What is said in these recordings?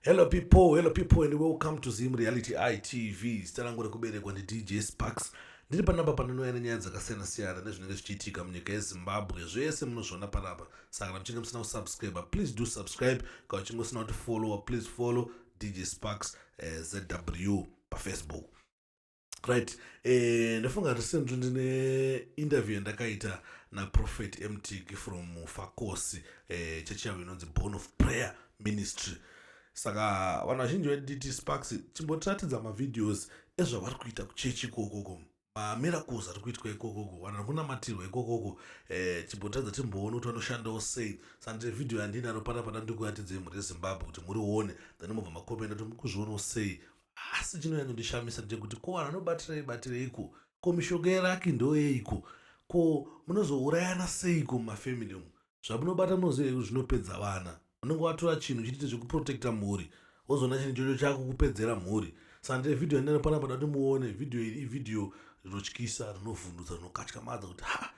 Hello people, hello people and welcome to Zim Reality ITV. Zita rangu rekuberekwa ndi DJ Sparks. Ndiri panapa panonouya nenyaya dzakasiyana siyana nezvinenge zvichiitika munyika yeZimbabwe. Zvese munozviona panapa. Saka kana muchinge musina kusubscribe, please do subscribe. Kana uchinge usina kuti follow, please follow DJ Sparks eh, ZW paFacebook. right eh, ndofunga recent ndine interview yandakaita naprofet mtg from fakosi eh, chechi yavo inonzi born of prayer ministry saka vanhu vazhinji vedt sparks chimbotiratidza mavideos ezvavari kuita kuchechi ikokoko mamiracles ari kuitwa ikokoko vanhu ari kunamatirwa ikokoko eh, chimbotiratidza timboone kuti vanoshandawo sei sandire vhidhiyo yandinaro pana pana ndikuratidze mhuri yezimbabwe kuti murione then mobva makomenda kuti mukuzvionawo sei asi chinonyanyondishamisa ndechekuti ko vanhu vanobatirei batireiko ko mishonga yeraki ndoyeiko ko munozourayana seiko mumafamily umu zvamunobata munoziva kuti zvinopedza vana unenge watora chinhu chitite zvekuprotecta mhuri wozoona chinhu chocho chakukupedzera mhuri saka ndee vhidhiyo yandinaro panapa da kuti muone vhidhiyo iri ivhidhiyo rinotyisa rinovhundutsa rinokatyamadza kuti ha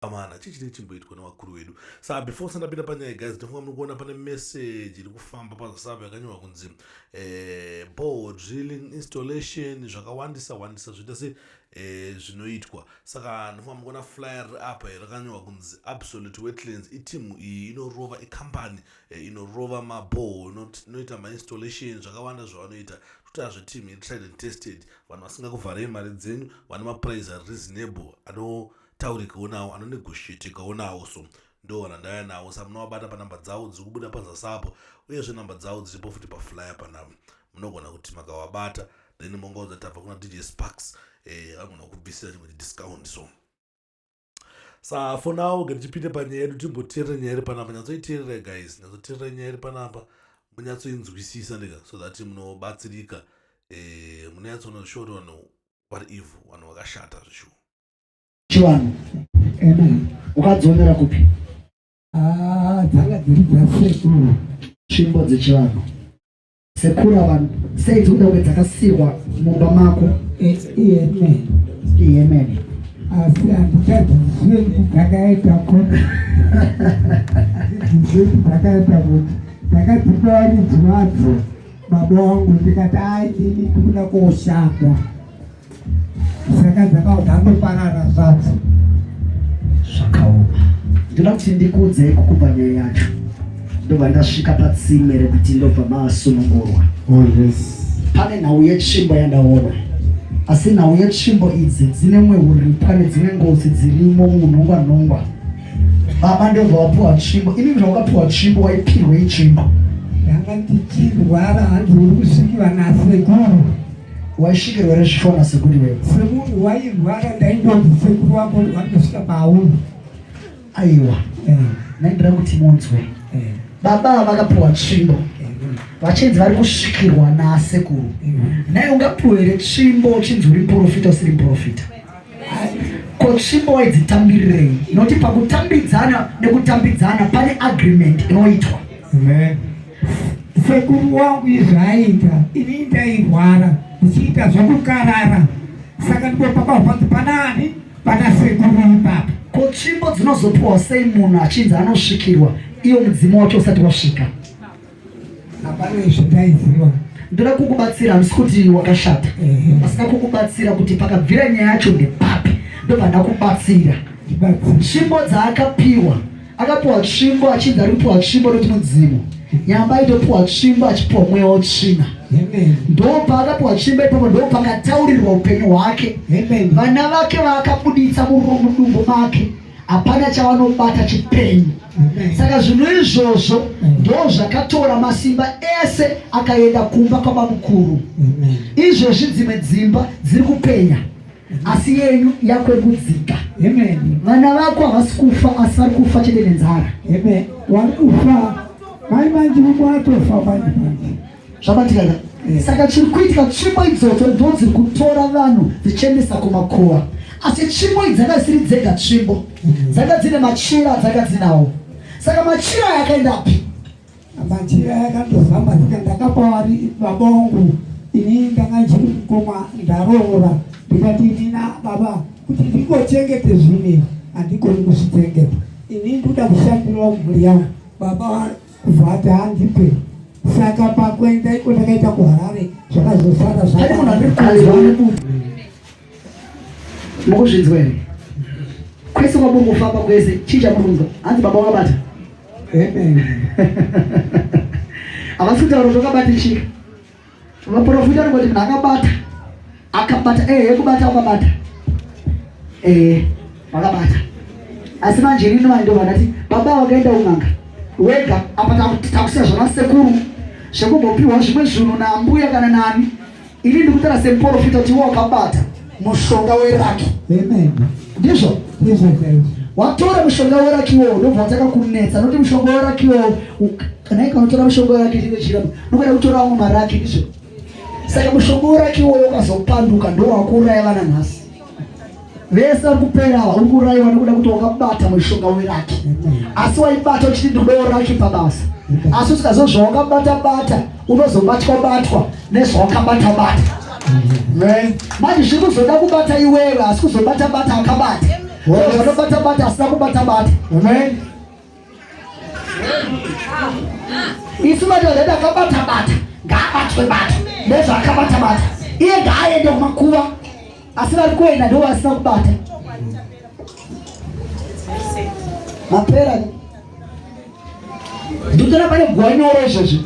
amana chii chinenge chimboitwa nevakuru vedu saa before usati ndapinda panyaya guys ndofunga muri kuona pane message iri kufamba pazasava yakanyorwa kunzi eh, ball drilling installation zvakawandisa wandisa zvoita se eh, zvinoitwa saka ndofunga muri kuona flyer apa rakanyorwa kunzi absolute wetlands itimu iyi inorova ikambani eh, inorova maball inoita mainstallation zvakawanda zvavanoita kuti azvetimu iri tried and tested vanhu vasingakuvharei mari dzenyu vane maprize ari reasonable ano taurikawo nawo anonegoshietekawo nawo so ndo randaya nawo sa munovabata panhamba dzavo dziri kubuda pazasapo uyezve nhamba dzavo dziripo futi paflyer panavo munogona kuti makavabata then mongaudza tabva kuna dj sparks eh, anogona kubvisira chimwe chidiscount so sa for now ke tichipinde panyaya yedu timboteerere nyaya iri panapa nyatsoiteerera guys nyatsoteerera nyaya iri panapa munyatsoinzwisisa ndega so that munobatsirika eh, munonyatsoona zvishoto vanhu vari evil vanhu vakashata zvishuwa chivanhu ukadzionera kupi ah, dzanga dziri dzasekuru tsvimbo dzechivanhu sekuru ava sei dzikuda kunge dzakasiirwa mumba mako iyemen iyemen asi handikadzizive kuti dzakaita kuti dzizive kuti dzakaita kuti ndakadzipa varidzi vadzo baba wangu ndikati aini ndikuda koshanda saka dzakao dzandoparara zvadzo zvakaoma ndoda kuti ndikudze kukupa nyaya yacho ndobva ndasvika patsime rekuti ndobva masunungurwa oh, pane nhau yetsvimbo yandaona asi nhau yetsvimbo idzi dzine mwe uripo ane dzine ngozi dzirimo munhongwa nhongwa baba ndobva wapiwa tsvimbo ini zvaukapiwa tsvimbo waipirwei tsvimbo ndanga ndichirwara hanzi uri kusvikiva nasekuru Waisvikirwa here zvishona sekuru iwewe? Semunhu wairwara ndaindonzi sekuru wako vanotosvika pauri. Aiwa. Eh. Naindira kuti munzwe. Eh. Baba vakapiwa tsvimbo. Eh. Vachinzi vari kusvikirwa nasekuru. Naye ungapiwe here tsvimbo uchinzi uri muprofita usiri muprofita? Ko tsvimbo waidzitambirirei? Noti pakutambidzana nekutambidzana pane agreement inoitwa. Amen. Sekuru wangu izvi aiita ini ndairwara ndichiita zvokukarara saka ndipo pakahwanzi panaani pana sekuru ipapa ko tsvimbo dzinozopiwa sei munhu achinzi anosvikirwa iyo mudzimu wacho usati wasvika hapana izvi ndaiziva ndoda kukubatsira handisi kuti wakashata pasina kukubatsira kuti pakabvira nyaya yacho ndepapi ndobva ndakubatsira tsvimbo dzaakapiwa Akapuwa tsvimbo achinzi ari kupuwa tsvimbo noti mudzimu. Nyamba aitopuwa tsvimbo achipuwa mweya wotsvina. Ndopa akapuwa tsvimbo ipapo ndopa akataurirwa upenyu hwake. Vana vake vaakabuditsa mudumbu make hapana chavanobata chipenyu. Saka zvinhu izvozvo ndo zvakatora masimba ese akaenda kumba kwabamukuru. Izvezvi dzimwe dzimba dziri kupenya. asi yenyu yakwerudzika vana vako havasi kufa asi vari kufa chete nenzara wari kufa mai manji umwe atofa manje manje zvabatika ka eh. saka chiri kuitika tsvimbo idzodzo ndo dziri kutora vanhu dzichiendesa kumakuva asi tsvimbo idzi dzanga dzisiri dzega tsvimbo mm. dzanga dzine machira dzanga dzinawo saka machira aya akaendapi Machira yakandozamba saka ndakapa vari baba wangu ini ndanga ndiri mukoma ndaroora ndikati inina baba kuti ndingochengete zvine handikoni kuzvichengeta ini ndoda kushandirawo mhuri yangu baba kuvati handipe saka pakuenda iko ndakaita kuharare zvakazosara zvaaa mukuzvinzwa here kwese kwamungofamba kwese chii chamukunzwa hanzi baba wakabata havasi kutaura kuti wakabata chii vaprofita anongoti munhu akabata akabata ehe eh, kubata wakabata ehe eh, wakabata asi manje inini vanhu ndovanati baba wakaenda un'anga wega apa takusiya zvana sekuru zvekumbopihwa zvimwe zvinhu naambuya kana nani Ini ndikutara semuporofita kuti wakabata mushonga weraki. Amen. Ndizvo? Ndizvo chaizvo. Watora mushonga weraki iwowo ndobva wataka kunetsa noti mushonga weraki iwowo kana ikanotora mushonga weraki chino chira nokada kutora amwe maraki ndizvo saka mushonga weraki iwowo ukazopanduka ndowakuuraya vana nhasi vese vari kupera ava uri kuraiwa nekuda kuti wakabata mushonga weraki asi waibata uchiti ndikudawo raki pabasa asi usikaziva zvawakabata bata unozobatwa batwa nezvawakabata bata manje zviri kuzoda kubata iwewe asi kuzobata bata akabata vanobata bata asina kubata bata isu madhodha takabata bata ngaabatwe bata nezvaakabata bata iye ngaaende kumakuva asi vari kuenda ndo vasina kubata mapera ndikutona pane guva nyoro izvozvo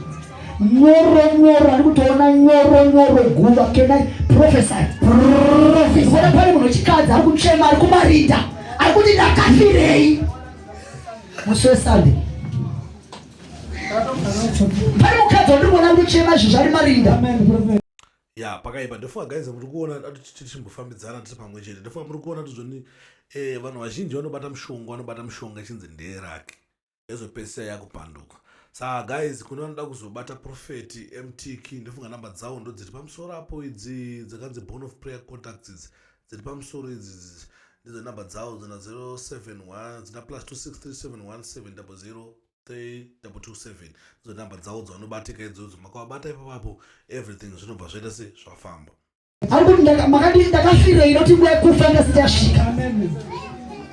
nyoro nyoro ari kutoona nyoro nyoro guva kena profesai profesona pane munhu wechikadzi ari kuchema ari kumarinda ari kuti ndakafirei musi wesunday pane mukadzi wandiri kuona ndochema izvi zvali marinda ya pakaipa ndofunga guys muri kuona tichimbofambidzana tiri pamwe chete ndofunga muri kuona tizvoni eh, vanhu vazhinji vanobata mushonga vanobata mushonga ichinzi ndeerake ezopedzisira yakupanduka saa guys kune vanoda kuzobata profeti mtk ndofunga namba dzawo ndodziri pamusoro apo idzi dzakanzi bone of prayer contacts idzi dziri pamusoro idzi ndidzo number dzavo dzina 071 dzina plus 2637173227 ndidzo number dzavo dzavanobatika idzodzo makavabata ipapapo everything zvinobva zvaita se zvafamba makadii ndakafirei noti nguva yekufa ndasitasvika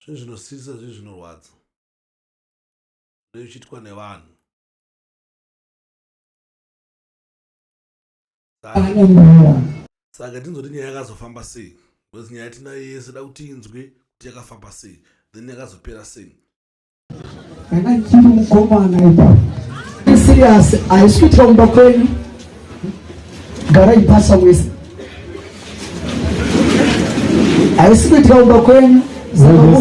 zvinhu zvinosiririsa zvinhu zvinorwadza zvichiitwa nevanhu saka tinzoti nyaya yakazofamba sei bcause nyaya tinayo yese da kuti inzwe kuti yakafamba sei then yakazopera sei kana chiri mukomana ipa serious haisi kuitira kumba kwenyu gara ipasa wese haisi kuitira kumba kwenyu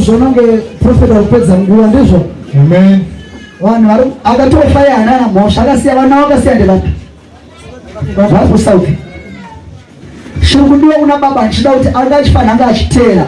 zvaunge profeta kupedza nguva ndizvo amen vanhu vari akatofaya anana mhosva akasiya vana vakasiya ndevapi vari kusauti shiri kudiwa kuna baba ndichida kuti anga achifanira anga achiteera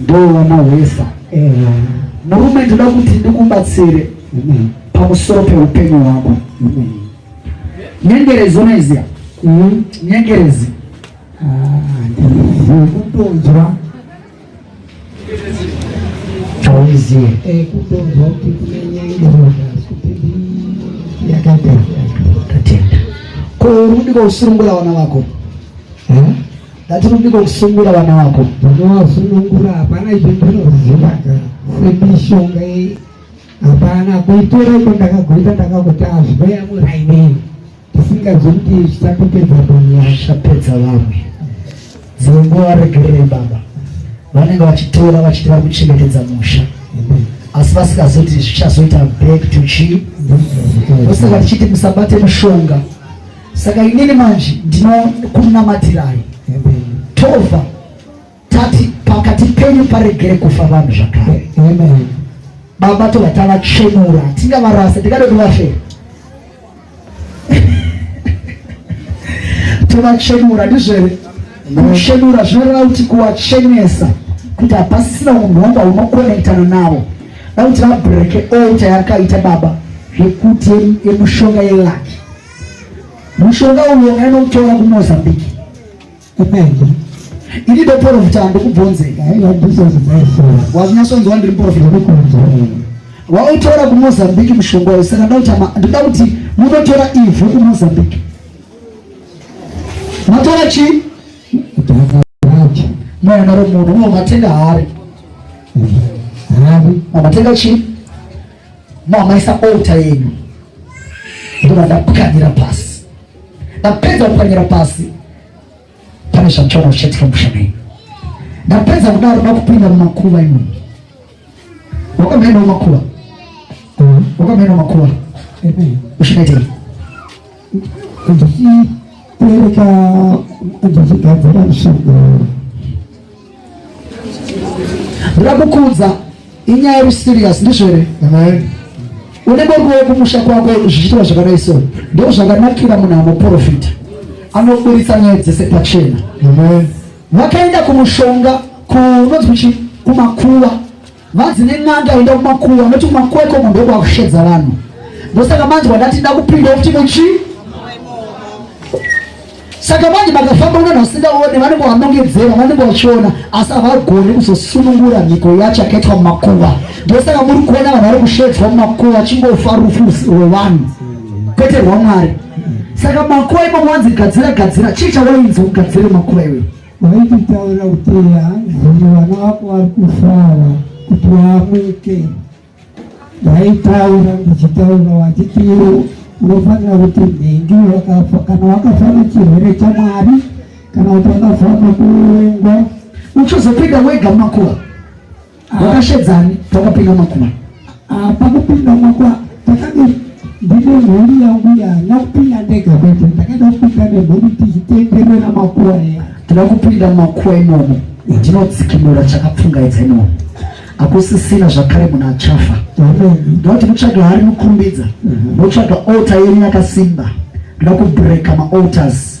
Ndoo wamahwesa. Eya. Murume ndoda kuti ndikubatsire Amen. pamusoro peupenyu hwako. Amen. Nyengerezi unoiziva? Mm. Nyengerezi. Ah, ndiri kutonzwa. Hauizive. Eh, kutonzwa kuti kune nyengerezi asi kuti ndi- yakaita yakatenda. Ko uri kudika usirumbura vana vako? Eh? Ndatirudiko kusungura vana vako. Unowasunungura hapana izvo ndinozivaga semishonga iyi. Hapana kuitora iko ndakagoita ndakakuti azweya murainei tisingazivi kuti zvisatopedza vanhu vachapedza vamwe. Dzimwe nguva varegererei baba vanenge vachitora vachiti vari kuchengetedza musha asi vasingazivi kuti zvichazoita back to chii. Ndosaka tichiti musabate mushonga. saka inini manje ndinokunamatirai tova tati pakati penyu paregere kufa vanhu zvakare baba tova tavachenura tingavarasa tikada kuti vafe tovachenura ndizvere kuchenura zvinoreva kuti kuwachenesa kuti hapasisina unhu wanga unokonektana navo da kuti vabreke olta yakaita baba zvekuti yemushonga yelaki Mushonga uyo ngainoutora kuMozambique kupengo ini ndoporofita handikubvonzeka wazinyasonzwa ndiri muporofita wautora kumozambique mushonga uyo saka ndoda kuti munotora ivhu kumozambique matora chi mwana romunhu unomatenga hari matenga chi Mamaisa altar yenyu ndova ndapwanyira pasi, ndapedza kupwanyira pasi, pane zvandichaona zvichaitika musha menyu. Ndapedza kudaro ndakupinda mumakuva imwe wakamhena makuva wakamhena makuva ushinaitei ndichipereka ndichigadzira mushando ramukudza inyaya iri serious ndizvo here une bongo kumusha kwako zvichiitwa zvakadai so ndo zvakanakira munhu anoprofita anoburitsa nyaya dzese pachena vakaenda kumushonga kunonzi kuchi kumakuva Vanzi nen'anga enda kumakuva anoti kumakuva ikoko ndokwakushedza vanhu ndosaka manzwa ndati ndakupinda kuti muchi saka manje makafamba unana usingaone vanenge vanongedzera vanenge vachiona asi havagoni kuzosunungura mhiko yacho yakaitwa mumakuva ndosaka muri kuona vanhu vari kushedzwa mumakuva achingofa rufu rwevanhu kwete rwamwari saka makuva imomo wanzi gadzira gadzira chii chawainzi ugadzire makuva iweyo Waititaura kuti hanzi vana vako vari kufara kuti waamuke. Waitaura ndichitaura wachiti unofanira kuti nhingi kana wakafa nechirwere chamwari kana kuti wakafa nekuurengwa uchizopinda wega makuva Wakashedzani pakapinda makuma? Ah, pakupinda makuma pakadini? Ndine mhuri yangu yana kupinda ndega kwete, ndakaita kupinda nemhuri tichitenderera makuwa eya. Tinoda kupinda makuwa imomo, ndinodzikinura chakapfungaidza imomo hakusisina zvakare munhu achafa ndoti mutsvaga hari mukumbidza motsvaga mhm. altar yenyu yakasimba ndoda kubreka maaltars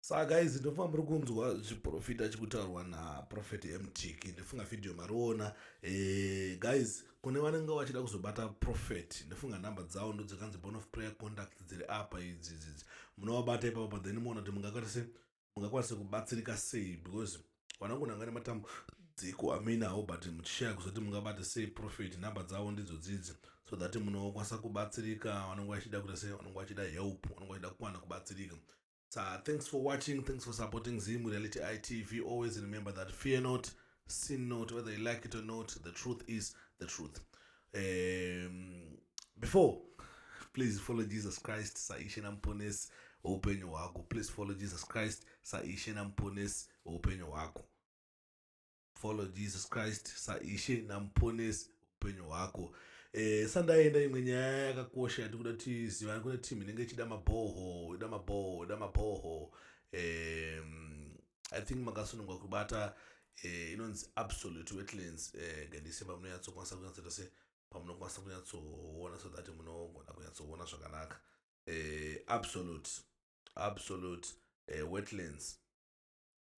saka guys ndofunga muri kunzwa zviprofita chikutaurwa naprofet mtiki ndofunga vhidhiyo mariona e, eh, guys kune vanenge vachida kuzobata profet ndofunga nhamba dzawo ndodzakanzi bone of prayer conduct dziri apa idzidzidzi munovabata ipapo but then muona kuti mungakwanise mungakwanise kubatsirika sei because vanongonanga nematambo dziko aminawo but muchishaya kuzoti mungabata sei profet nhamba dzavo ndidzo dzidzi so that munokwanisa kubatsirika vanonge vachida kuita sei vanonge vachida help vanonge vachida kukwana kubatsirika sa thanks for watching thanks for supporting zim reality itv always remember that fear not sin not whether you like it or not the truth is the truth um, before please follow jesus christ saishe namuponesi weupenyu hwako please follow jesus christ saishe namuponesi weupenyu hwako follow jesus christ saishe namuponesi upenyu hwako e, sandaenda imwe nyaya yakakosha yatikuda tizivana kune team inenge ichida mabhoho ida mabhoho ida mabhoho e, i think makasunungwa kubata e, inonzi absolute wetlands e, gendise pamunonyatsokwanisa kunyatsoita se pamunokwanisa kunyatsoona so that munogona kunyatsoona zvakanaka e, absolute absolute e, wetlands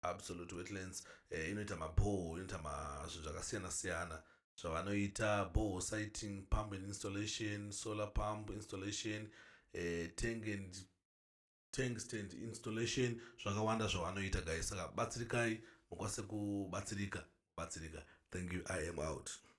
absolute wetlands eh, inoita mabhoo inoita mazvinhu zvakasiyana siyana zvavanoita bhoo siting pump and installation solar pump installation eh, tank and tank stand installation zvakawanda zvavanoita guys saka batsirikai mukwanise kubatsirika batsirika thank you i am out